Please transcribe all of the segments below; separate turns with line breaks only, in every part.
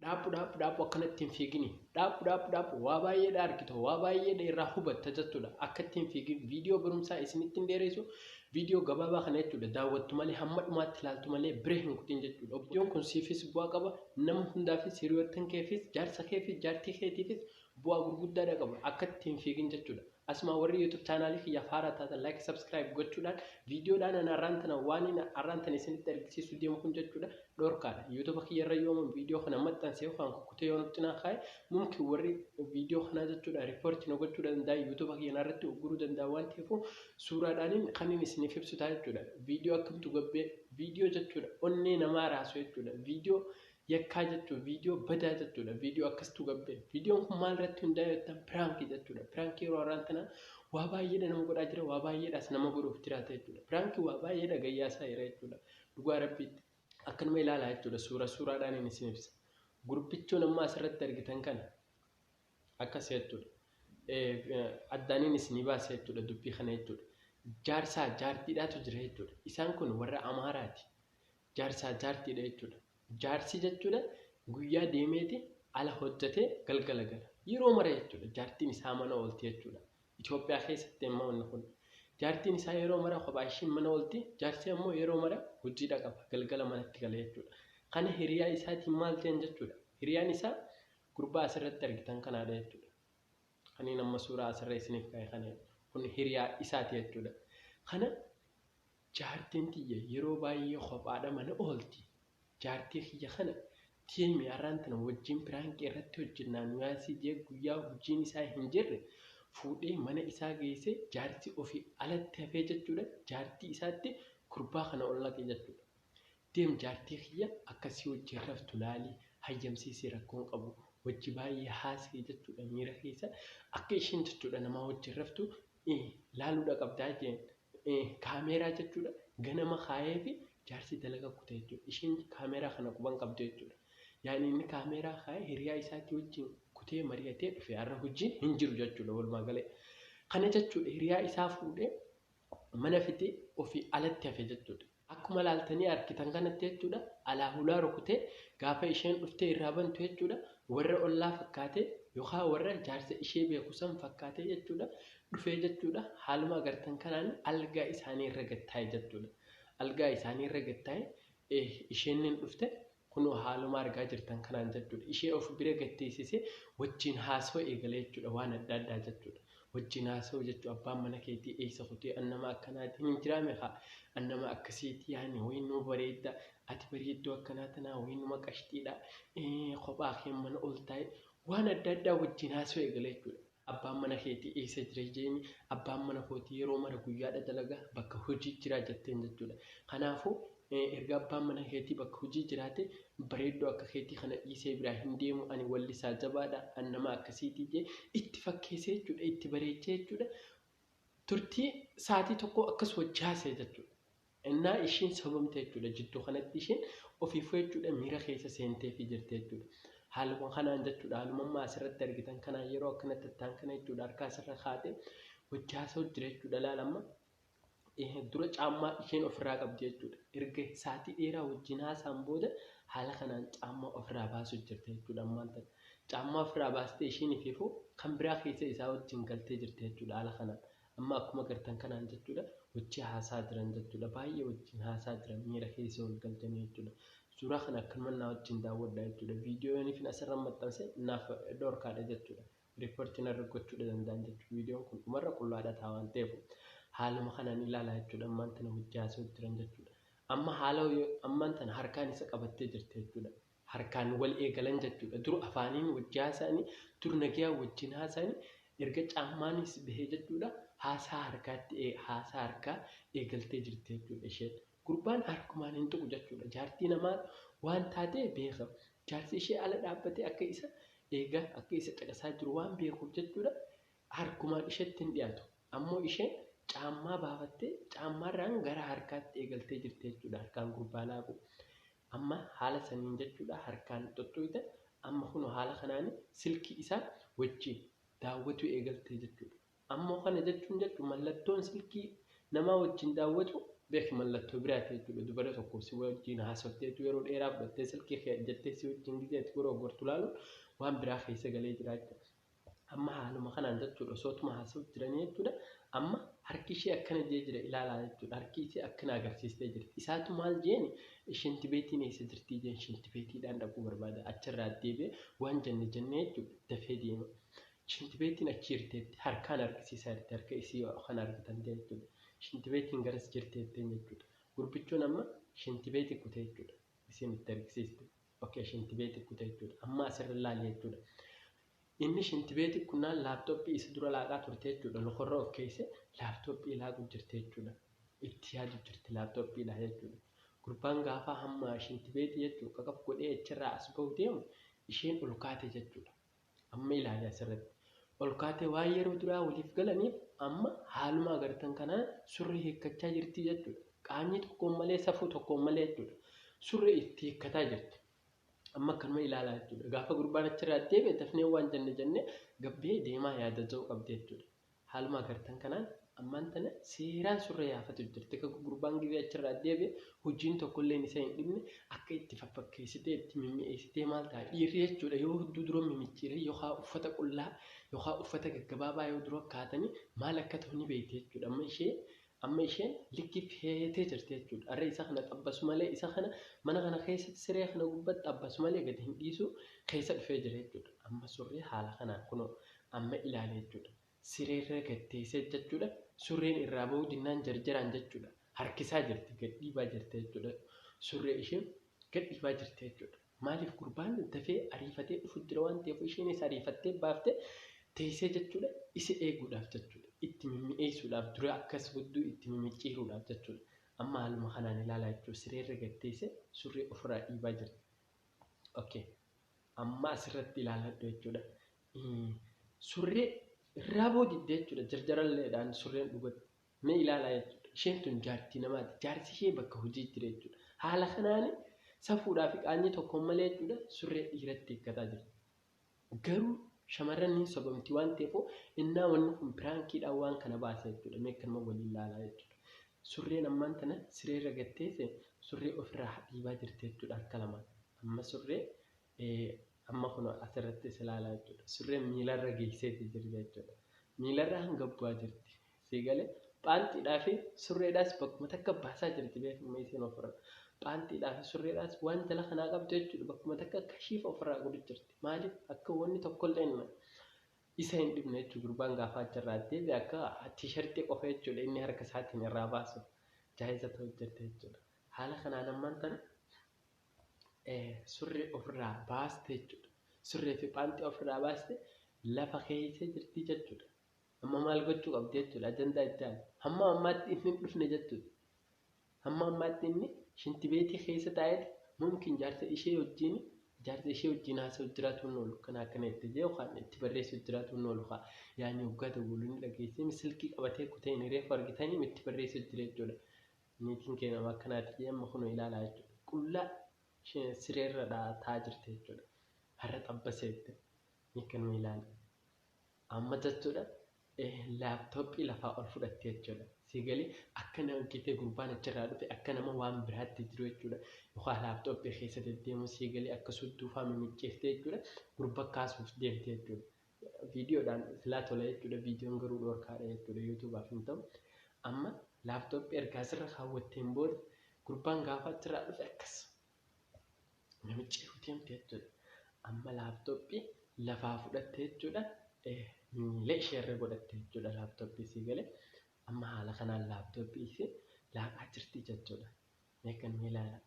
Dhaabbu dhaabbu dhaabbu akkanatti hin fiigini. Dhaabbu dhaabbu dhaabbu waa baay'eedha argita waa baay'eedha irraa hubatta jechuudha. Akkatti hin fiigin viidiyoo barumsaa isinitti hin dheeressu viidiyoo gabaabaa kana jechuudha. Daawwattu malee hamma dhumaatti ilaaltu malee bira hin kutin jechuudha. Viidiyoon kun siifis bu'aa qaba nama hundaafis hiriyoottan keefis jaarsa keefis jaartii keetiifis Bu'aa gurguddaadha qaba. Akka itti hin fiigin jechuudha. Asuma warri YouTube chaanaalii kiyya faara taatan like subscribe gochuudhaan viidiyoodhaan ana arraan tana waan inni arraan tana isinitti argisiisu deemu kun jechuudha dhorkaadha. YouTube kiyya irra yoo ammoo viidiyoo kana maxxanse yookaan kukkutee yoo nutti naa kaa'e mumkin warri viidiyoo kanaa jechuudha riippoortii na gochuu danda'a YouTube kiyya narratti ugguruu danda'a waan ta'eef suuraadhaan kan inni isiniif ibsu ta'a jechuudha. Viidiyoo akkamtu gabbee viidiyoo jechuudha onnee namaa raasu jechuudha. Viidiyoo Yakkaa jechuun viidiyoo badaa jechuudha. Viidiyoo akkasitu gabbee. Viidiyoon kun maal irratti hundaa'e jettan piraankii jechuudha. Piraankii yeroo har'aan tana waa baay'eedha nama godhaa jira, waa baay'eedhaas nama godhuuf jiraata jechuudha. Piraankii waa baay'eedha gayyaasaa jira jechuudha. Dhugaa rabbiitti. Akkanuma ilaalaa jechuudha. Suura suuraadhaan inni isin ibsa. Gurbichuun amma asirratti argitan kana akkas jechuudha. Addaaniin isinii baasa jechuudha dubbii kana jechuudha. Jaarsaa jaartiidhaatu jira jechuudha. Isaan kun warra Amaaraati. Jaarsaa jaartiidha jechuudha. Jaarsi jechuudha guyyaa deemeeti ala hojjetee galgala gala. Yeroo mara jechuudha jaartiin isaa mana oolti jechuudha. Itoophiyaa keessatti ammoo inni kun. Jaartiin isaa yeroo mara kophaa ishiin mana oolti. Jaarsi ammoo yeroo mara hojii dhaqaba. Galgala manatti gala jechuudha. Kana hiriyaa isaatiin maal ta'an jechuudha. Hiriyaan isaa gurbaa asirratti argitan kanaadha jechuudha. Kaniin amma suuraa asirra isiniif kaa'e kana kun hiriyaa isaati jechuudha. Kana Jaartiin tiyya yeroo baay'ee kophaadha mana oolti. Jaartii kiyya kana team arraan tana wajjiin piraanki irratti hojjennaa nu yaasii jee guyyaa hujiin isaa hin jirre fuudhee mana isaa geessee jaartii ofii alatti hafee jachuudha jaartii isaatti gurbaa kana ol naqe jachuudha. Deem jaartii kiyya akka sii wajjiin raftu laali hayyamsiisii rakkoo hin qabu wajji baay'ee haasayi jachuudha miira keessa akka isheen jachuudha namaa wajjiin raftu laaluudha qabdaa jeen kaameeraa jechuudha ganama kaayee fi jaarsi dalaga kute jechuudha isheen kaameeraa kana quban qabdu jechuudha yaani inni kaameeraa kaayee hiriyaa isaatti wajjin kutee mari'atee dhufe har'a hojii hin jiru jechuudha walumaa galee kana jechuudha hiriyaa isaa fuudhee mana fidee ofii alatti hafe jechuudha Akkuma laaltanii argitan kanatti jechuudha alaa hulaa rukutee gaafa isheen dhuftee irraa bantu jechuudha warra ollaa fakkaatee yookaan warra jaarsa ishee beeku san fakkaatee jechuudha dhufee jechuudha haaluma agartan kanaan algaa isaanii irra gattaa'e jechuudha algaa isaanii irra gattaa'e isheen nin dhufte Kunoo haaluma argaa jirtan kanaan jechuudha. Ishee of bira gad teessisee wajjin haasawuu eegale jechuudha. Waan adda addaa jechuudha. Wajjin haasawuu jechuun abbaan mana keetii eessa kutee an nama akkanaatiin hin jiraame kaa. An nama akkasiiti yaani wayii nuu bareedda. Ati bareedduu akkanaa tanaa wayii numa qashxiidha. Ee, Kophaa kee mana ol taa'e. Waan adda addaa wajjin haasawuu eegale jechuudha. Abbaan mana keetii eessa jira jeeni abbaan mana kootii yeroo mara guyyaadha dalaga bakka hojii jira jetteen jechuudha. Kanaafuu erga abbaan mana keetii bakka hojii jiraate bareedduu akka keetii kana dhiisee biraa hin deemu ani wallisaa jabaadha an nama akkasiitii jee itti fakkeessee jechuudha itti bareechee jechuudha turtii saatii tokko akkas wajji haasa'e jechuudha. Ennaa ishiin sobamte jechuudha jidduu kanatti ishiin ofiifuu jechuudha miira keessa seenteefii jirti jechuudha. Haaluma kanaan jechuudha haaluma amma asirratti argitan kanaan yeroo akkana tattaan kana jechuudha harka asirra kaate wajji haasa'u jira jechuudha laal amma dura caammaa isheen ofirraa qabdi jechuudha. Erga saatii dheeraa wajjin haasaan booda haala kanaan caammaa ofirraa baasuu jirti jechuudha ammaan tana. Caammaa ofirraa baastee ishiin ifiifuu kan biraa keessa isaa wajjin galtee jirti jechuudha haala kanaan. Amma akkuma agartan kanaan jechuudha wajji haasaa jiran jechuudha baay'ee wajjin haasaa jiran miira keessa wal galchanii jechuudha suuraa kana akkanuma naa wajjin daawwadha jechuudha viidiyoon ifin asirra maxxanse naaf dhorkaadha jechuudha riipportii narra gochuudha danda'an jechuudha viidiyoon kun dhumarra qullaadha ta'a waan ta'eef haaluma kanaan ilaalaa jechuudha ammaan tana wajji haasa'u jiran jechuudha amma haala ammaan tana harkaan isa qabattee jirti jechuudha harkaan wal eegalan jechuudha. Dur afaaniin wajji haasa'anii, dur nagayaa wajjin haasa'anii, erga caammaanis bahee jechuudha haasaa harkaatti ee haasaa harkaa eegaltee jirti jechuudha isheen. Gurbaan harkumaan hin tuqu jechuudha. Jaartii namaa waan taatee beeka. Jaarsi ishee ala dhaabbatee akka isa eegaa, akka isa caqasaa jiru waan beekuuf jechuudha harkumaan isheetti hin dhiyaatu. Ammoo isheen caammaa baafattee caammaarraan gara harkaatti eegaltee jirti jechuudha harkaan gurbaa laaquu. Amma haala saniin jechuudha harkaan xuxxuyxe amma kunoo haala kanaani silkii isaa wajjiin daawwatuu eegaltee jechuudha. Ammoo kana jechuun jechu mallattoon silkii namaa wajjiin daawwatuu beeki mallattoo biraati jechuudha dubara tokko si wajjiin haasofteetu yeroo dheeraa fudhattee silkii kee ajjattee si wajjiin gizee itti goroogortu laaluun waan biraa keessa galee jira jechuudha. Amma haaluma kanaan jechuudha osoo tuma haasa'uuf jiranii jechuudha. Amma harki ishee akkana jee jira ilaalaa jechuudha. Harki ishee akkana agarsiistee jirti. Isaatu maal jeeni shinti beetiin eessa jirtii jeen shinti beetiidhaan dhaquu barbaada. Achirraa deebi'ee waan jenne jennee jechuudha dafee deema. Shinti beetiin achi jirteetti harkaan argisiisaa jirti harka isii kan argitan ta'e jechuudha. Shinti beetiin garas jirteetteen jechuudha. Gurbichoon amma shinti beetii kutee jechuudha. Isiin itti argisiiste. Okay, shintibeeti kuta jechuudha. Amma asirra ilaali jechuudha. Inni shintibeeti kunnaan laaptooppii isa dura laaqaa turte jechuudha. Lokorra of keesse laaptooppii laaquu jirte jechuudha. Itti yaadu jirti laaptooppiidha jechuudha. Gurbaan gaafaa hamma shintibeeti jechuudha. Qaqaf godhee achirraa as bahu deemu isheen ol kaate jechuudha. Amma ilaali asirratti. Olkaatee waan yeroo duraa waliif galaniif amma haaluma agartan kanaan surree hiikkachaa jirti jechuudha. Qaanyii tokkoon malee safuu tokkoon malee jechuudha. Surree itti hiikkataa jirti. Amma akkanuma ilaalaa jechuudha. Gaafa gurbaan achirraa deebi'e dafnee waan jenne jennee gabbee deemaa yaada jedhu qabdi jechuudha. Haaluma agartan kanaan ammaan tana seeraan surree yaafatu jirti. Ka gurbaan gizee achirraa deebi'e hujiin tokkolleen isa hin dhibne akka itti faffakkeessitee itti mimmi'eessitee maal ta'a dhiirri jechuudha yoo hudduu dura mimicciiree yookaa uffata qullaa yookaa uffata gaggabaabaa yoo dura kaatanii maal akka ta'u ni beekti jechuudha amma ishee Amma isheen likki feetee jirti jechuudha. Arra isa kana xabbasu malee isa kana mana kana keessatti siree kana gubbatti xabbasu malee gadi hin dhiisu keessa dhufee jira jechuudha. Amma surree haala kanaan kunoo amma ilaale jechuudha. Sireerra gad teessee jechuudha. Surreen irraa bahuu dinnaan jarjaraan jechuudha. Harkisaa jirti gad dhiibaa jirti jechuudha. Surree ishee gad dhiibaa jirti jechuudha. Maaliif gurbaan dafee ariifatee dhufu jira waan ta'eef isheenis ariifattee baaftee teessee jechuudha isa eeguudhaaf jechuudha itti mimmi'eessuudhaaf dura akkas gudduu itti mimicciiruudhaaf jechuudha amma haaluma kanaan ilaalaa jechuudha sireerra gatteessee surree ofirraa dhiibaa jirti. Okay. Amma asirratti ilaaladhu jechuudha. Surree irraa boo didde jechuudha jarjaralleedhaan surreen dhugatti Mee ilaalaa jechuudha. Isheen tun jaartii namaati. Jaarsi ishee bakka hojii jira jechuudha. Haala kanaan safuudhaa fi qaanyii tokkoon malee jechuudha surree dhiiratti hiikkataa jirti. Garuu shamarran ni sobamti waan ta'eef innaa wanni kun piraankiidhaan waan kana baasa jechuudha. Mee kanuma waliin ilaalaa jechuudha. Surreen ammaan tana sireerra gatteesse surree ofirraa dhiibaa jirti jechuudha harka lamaan. Amma surree Amma kunoo asirrattis ilaala jechuudha. Surreen miilarra geesseeti jirti jechuudha. Miilarra hanga bu'aa jirti. Sii galee phaantiidhaa fi surreedhaas bakkuma takka baasaa jirti beekama isiin ofirra. Phaantiidhaa fi surreedhaas waan jala kanaa qabdu jechuudha. Bakkuma takka kashiif ofirraa godhu jirti. Maaliif akka wanni tokkollee inni isa hin dhibne jechuudha. Gurbaan gaafaa achirraa deebi akka tiishartii qofa jechuudha inni harka isaatiin irraa baasu jaayiza ta'u jirti jechuudha. Haala kanaan ammaan tana surree ofirraa baaste jechuudha. Surree fi phaantii ofirraa baaste lafa keessa jirti jechuudha. Amma maal gochuu qabdi jechuudha ajandaa itti aanu. Hamma ammaatti inni hin dhufne jechuudha. Hamma ammaatti inni shinti beetii keessa taa'eeti mumkin jaarsa ishee wajjin jaarsa ishee wajjin haasa'u jiraatu hin oolu kan akkana itti jee yookaan itti barreessu jiraatu hin oolu kaa yaani waggaa dawwaluu ni dhageessee silkii qabatee kutee inni reefu argitanii itti barreessu jira jechuudha. Niitiin kee nama akkanaati amma kunoo ilaalaa jechuudha. Qullaa isheen sireerra taa'aa jirti jechuudha. Har'a xabba seette. Nikkanuma ilaali. Amma jechuudha laaptooppii lafaa ol fudhatte jechuudha. Si galee akka nama gitee gurbaan achirraa dhufe akka nama waan biraatti jiru jechuudha. Yookaan laaptooppii keessa deddeemu si galee akka sudduufaa mimicciirte jechuudha. Gurba kaasuuf deemte jechuudha. Video dhaan silaa tola jechuudha videon garuu dhorkaadha jechuudha youtubaaf hin ta'u amma laptop ergaa sirra kaawwatteen booda gurbaan gaafaa achirraa dhufe akkas namichi deemte jechuudha amma laptop lafaa fudhatte jechuudha miila isheerra godhatte jechuudha laptop isii galee amma haala kanaan laptop isii laaqaa jirti jechuudha meekan miilaala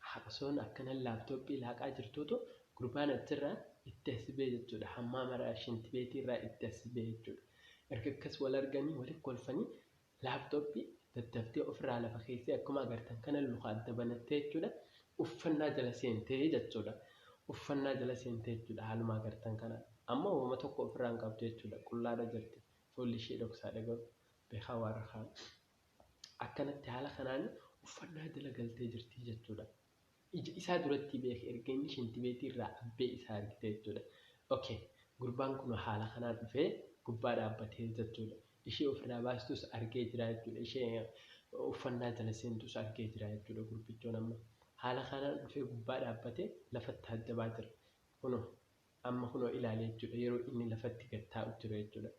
Haa osoon akkanan laptop laaqaa jirtuutu gurbaan achirraa itti as bee jechuudha hammaa maraa shinti beetii irraa itti as bee jechuudha erga akkas wal arganii wali kolfanii laptop daddaftee ofirraa lafa keessee akkuma agartan kana luka adda banattee jechuudha uffannaa jala seentee jechuudha uffannaa jala seentee jechuudha haaluma agartan kana amma woma tokko ofirraa hin qabdu jechuudha qullaadha jirti fuulli ishee dhoksaadha garuu beekaa waarra kaan. Akkanatti haala kanaan uffannaa jala galtee jirti jechuudha. Ija isaa duratti beeke erga inni shintibeetii irraa abbee isaa argite jechuudha. Okay. Gurbaan kun haala kanaan dhufee gubbaa dhaabbatee jechuudha. Ishee ofirraa baastus argee jira jechuudha. Ishee uffannaa jala seentus argee jira jechuudha gurbichoon amma. Haala kanaan dhufee gubbaa dhaabbatee lafatti taajjabaa jira. Kunoo amma kunoo ilaale jechuudha yeroo inni lafatti gad taa'u jiru jechuudha.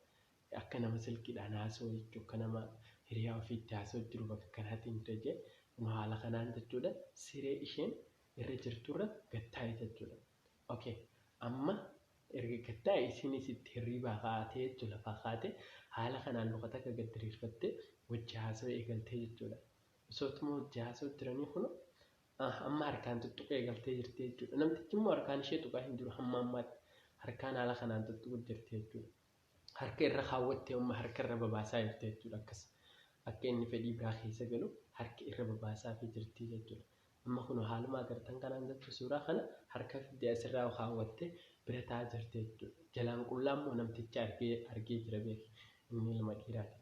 Akka nama silkiidhaan haasa'u jechuudha. Akka nama hiriyaa ofii itti haasa'u jiru bakka kanaatiin jira jee kunoo haala kanaan jechuudha siree isheen irra jirturra gad taa'e jechuudha. Ok amma erga gad taa'e isiinis itti hirriibaa kaatee jechuudha lafaa kaatee haala kanaan luka takka gad diriirfattee wajji haasa'uu eegaltee jechuudha. Osootuma wajji haasa'u jiranii kunoo ah, amma harkaan tuttuquu eegaltee jirti jechuudha. Namtichi immoo harkaan ishee tuqaa hin jiru hamma ammaatti harkaan haala kanaan tuttuquu jirti jechuudha. harka irra kaawwattee amma harka irra babaasaa jirti jechuudha akkas akka inni fedhii biraa keessa galu harka irra babaasaa fi jirti jechuudha amma kun haaluma agartan kanaan jechuudha suuraa kana harka fidde asirraa kaawwattee bira taa'aa jirti jechuudha jalaan qullaa immoo namtichi argee argee jira beeki inni ilma dhiiraati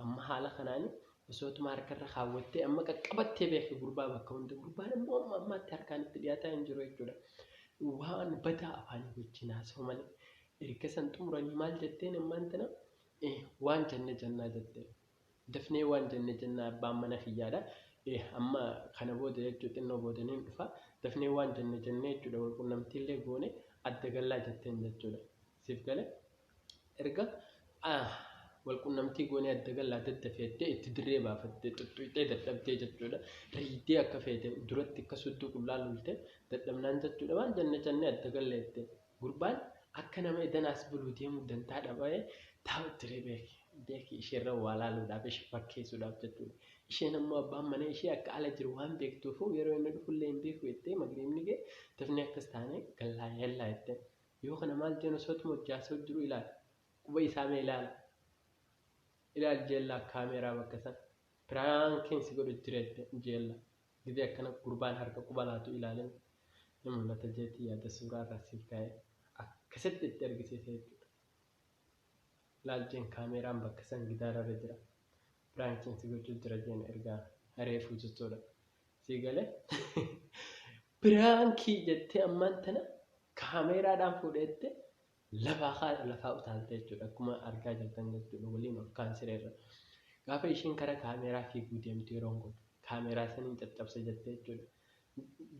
amma haala kanaan osootuma harka irra kaawwattee amma qaqqabattee beeki gurbaa bakka hunda gurbaan immoo amma ammaatti harkaan itti dhiyaataa hin jiru jechuudha waan badaa afaanii wajjin haasa'u malee Erga san xumuranii maal jetteen ammaan tana? Ee, waan jenne jennaa jette. Dafnee waan jenne jennaa abbaan mana kiyyaadha. Ee, amma kana booda jechuu xinnoo booda niin dhufa. Dafnee waan jenne jennee jechuudha wal qunnamtiillee goone adda gallaa jetteen jechuudha. Siif gale? Erga ah, wal qunnamtii goonee adda gallaa daddafee jettee itti dirree baafattee xuxxuyxee dadhabdee jechuudha. Riidee akka feete duratti akka sudduu qullaa lolte dadhabnaan jechuudha waan jenne jennee adda galla jettee. Gurbaan akka nama edan as buluu deemu dantaa dhaba'ee taa'u ture beeki. Beeki isheerra waa laaluudhaaf ishee fakkeessuudhaaf jechuudha. Isheen ammoo abbaan mana ishee akka ala jiru waan beektuufuu yeroo inni dhufullee hin beeku jettee magriibni ga'e tafnee akkas taanee gallaa yallaa jetteen. Yoo kana maal jeen osoo tuma hojjaasoo jiru ilaali. Quba isaa mee ilaali. Ilaali jeellaa kaameeraa bakka san. Piraankiin si godhu jira jetteen jeellaa. Gizee akkana gurbaan harka quba laatu ilaalin ni mul'ata jeeti yaada suuraa irraa siif kaa'e akkasitti itti argisiisa jechuudha. Ilaalchiin kaameeraan bakka san gidaara irra jira. Piraankiin si gochuu jira jeen ergaa reefuu jechuudha. Sii galee piraankii jettee ammaan tana kaameeraadhaan fuudheette lafaa kaadha lafaa utaaltee jechuudha akkuma argaa jirtan jechuudha waliin ol kaan sireerra gaafa isheen kara kaameeraa fiiguu deemtu yeroon kun kaameeraa saniin caccabsa jette jechuudha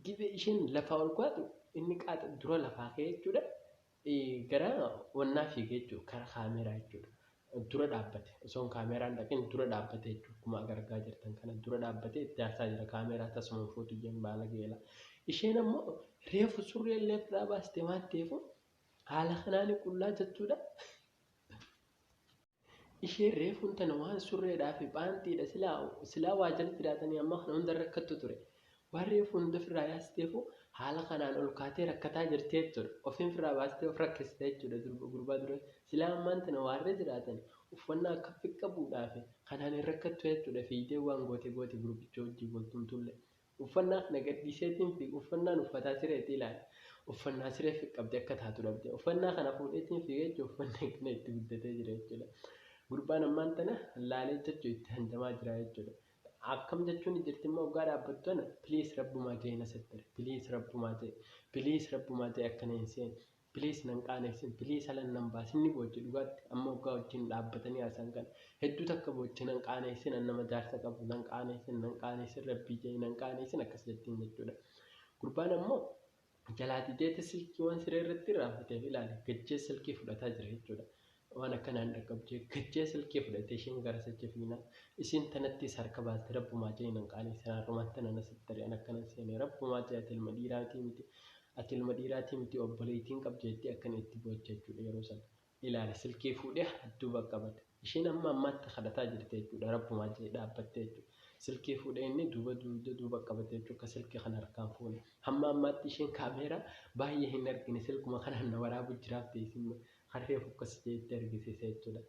gibee isheen lafaa ol kaatu inni qaata dura lafaa ka'e jechuudha gara wannaa fiigee jechuudha kara kaameeraa jechuudha dura dhaabbate osoon kaameeraan dhaqin dura dhaabbate jechuudha akkuma argaa jirtan kana dura dhaabbate itti aarsaa jira kaameeraa tasuma fuutu jeen baala geela isheen ammoo reefu surree illee irraa baaste waan ta'eefu Haala kanaani qullaa jechuudha. Isheen reefuun tana waan surreedhaa fi phaantiidha silaa silaa waa jala jiraatanii amma kana hunda rakkattu ture. Waan reefu hunda ofirraa yaasteefu haala kanaan ol kaatee rakkataa jirti jechuudha. Ofiin ofirraa baastee of rakkiste jechuudha durba gurbaa dura. Silaa ammaan tana waarree jiraatan uffannaa akka fiqqa buudhaa fi kanaan hin rakkattu jechuudha fiigdee waan goote goote gurbicha wajjin wal tumtullee. Uffannaa na gadhiiseetiin fiiga. Uffannaan uffataa sireeti ilaali. Uffannaa sireef qabdi akka taatu dhabde. Uffannaa kana fuudheetiin fiiga jechuun uffanni akkana itti guddatee jira jechuudha. Gurbaan ammaan tana laalee jechuun itti handamaa jira jechuudha. Akkam jechuun jirti immoo oggaa dhaabbattu tana please rabbumaa jee na sattari. Please rabbumaa jee. Please rabbumaa jee akkana hin seenu. Please nan qaanessin please halan nan baasin ni booche dhugaatti amma oggaa wajjin dhaabbatanii haasa'an kana hedduu takka booche nan qaaneessin an nama jaarsa qabu nan qaaneessin nan qaaneessin rabbii ja'i nan qaaneessin akkas jettiin jechuudha gurbaan ammoo jalaa dideeti silkii waan siree irratti irraanfateef ilaali gajjee silkii fudhataa jira jechuudha Waan akkanaan dhaqqabu jee gachee silkii fudhatee isheen gara sacha fiinaan isiin tanattiis harka baaste rabbumaa jee nan qaaneessin harrumaan tanan asitti tarii an akkanan seene rabbumaa jee ati ilma dhiiraatii miti ati ilma dhiiraatii miti obboleeytiin qabda jettee akkana itti boocha jechuudha yeroo san ilaali silkii fuudhee hadduu baqqabate isheen amma ammaatti kadhataa jirti jechuudha rabbumaa jee dhaabbattee jechuudha silkii fuudhee inni duuba duuda duuba qabate jechuudha akka silkii kana harkaan fuune hamma ammaatti isheen kaameeraa baay'ee hin argine silkuma kanaan na waraabu jiraaf teessin Harree fokkasitee itti argisiisa jechuudha.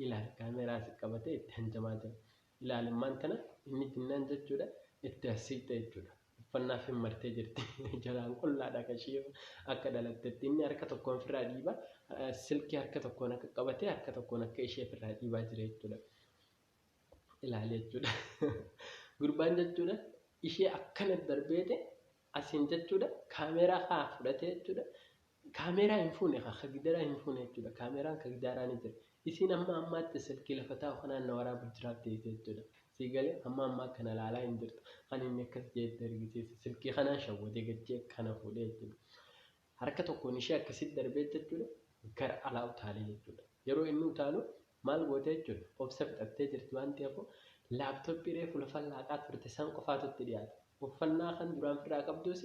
Ilaali kaameeraa si qabatee itti hanjamaa jira. Ilaali ammaan tana inni jinnaan jechuudha itti as siqxe jechuudha. Uffannaa fi martee jirti. Jalaan qullaadha kan ishii akka dhalattetti. Inni harka tokkoon ofirraa dhiiba. Silkii harka tokkoon akka qabatee harka tokkoon akka ishee ofirraa dhiibaa jira jechuudha. Ilaali jechuudha. Gurbaan jechuudha ishee akkana darbeete Asiin jechuudha kaameeraa kaa fudhatee jechuudha kaameeraa hin fuune kaa ka gidaraa hin fuune jechuudha kaameeraan ka gidaaraa ni jira isiin amma ammaatti silkii lafa taa'u kanaan na waraabu jiraaf teessee jechuudha sii galee amma ammaa kana laalaa hin jirtu kan inni akkas jeetti argisiise silkii kanaan shawwadee gachee kana fuudhee jechuudha Harka tokkoon ishee akkasitti darbee jechuudha gara alaa utaalee jechuudha. Yeroo inni utaalu maal goote jechuudha obsa fixattee jirti waan ta'eefuu laaptooppii reefu lafa laaqaa turte san qofaatu itti dhiyaate. Uffannaa kan duraan firraa qabduus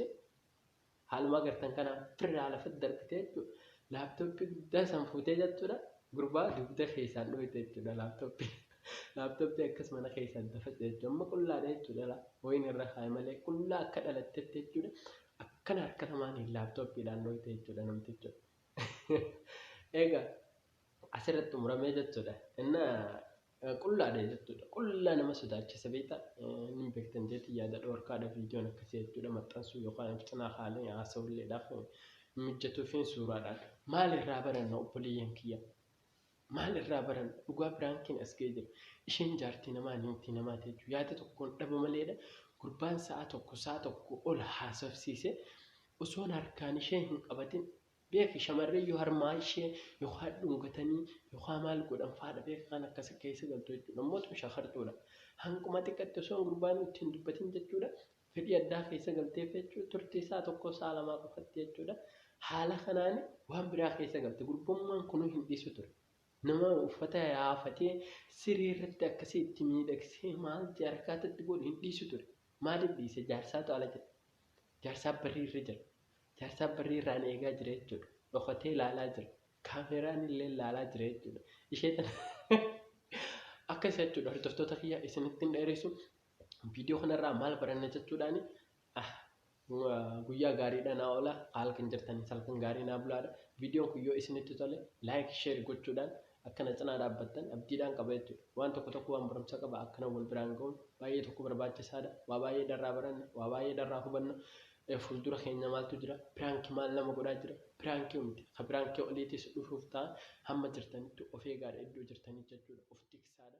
haaluma agartan kanaan firraa lafatti darbitee jechuudha. Laaptooppii guddaa san fuutee jechuudha gurbaa dugda keessaan dhooyte jechuudha laaptooppii. Laaptooppii akkas mana keessaan dafate jechuudha. Amma qullaadha jechuudha. Wayiin irra kaa'e malee qullaa akka dhalattetti jechuudha. Akkana harka lamaaniin laaptooppiidhaan dhoyte jechuudha namticho. Egaa asirratti xumuramee jechuudha. Inna qullaadha jechuudha. Qullaa nama sodaachisa beekta. Inni beektan jeetii yaada dhoorkaadha viidiyoon akkasii jechuudha maxxansuu yookaan of cinaa kaalee haasa'ulleedhaaf mijjatuufiin suuraadhaan. Maalirraa baranna obboleeyyan kiyya? Maal irraa baranna dhugaa piraankiin as ga'ee jira isheen jaartii namaa niitii namaa teechu yaada tokkoon dhaba maleedha gurbaan sa'a tokko sa'a tokko ol haasofsiise osoon harkaan ishee hin qabatin beeki shamarree yoo harmaa ishee yokaa dhungatanii yokaa maal godhan faadha beeka kan akkas keessa galtu jechuudha mootu shakartuudha hanquma xiqqatti osoon gurbaan itti hin dubbatin jechuudha fedhii addaa keessa galteef jechuudha. Turtii sa'a tokkoo sa'a lamaa qofatti jechuudha. Haala kanaan waan biraa keessa galte. Gurbummaan kunuu hin dhiisu ture. Nama uffata yaafatee siree irratti akkasii itti miidhagsee maal jaarkaatti itti godhu hin dhiisu ture. Maaliif dhiise? Jaarsaatu ala jira. Jaarsaa barrii irra jira. Jaarsaa barrii irraan eegaa jira jechuudha. Dhokatee ilaalaa jira. Kaameraan illee ilaalaa jira jechuudha. Ishee tana akkas jechuudha hordoftoota kiyya isinitti hin dheeressu. viidiyoo kanarraa maal baranna jechuudhaan guyyaa gaariidha naa oola halkan jirtanii halkan gaarii naa bulaadha viidiyoon kun yoo isinitti tole laayik sheer gochuudhaan akkana cinaa dhaabbattan abdiidhaan qaba jechuudha waan tokko tokko waan barumsa qaba akkana wal biraan ga'uun baay'ee tokko barbaachisaadha waa baay'ee dharraa baranna waa baay'ee dharraa hubanna fuuldura keenya maaltu jira piraankii maal nama godhaa jira piraankii miti ka piraankii oliitis dhufuuf ta'a hamma jirtanitti of eegaadha iddoo jirtanii jechuudha of tiksaadha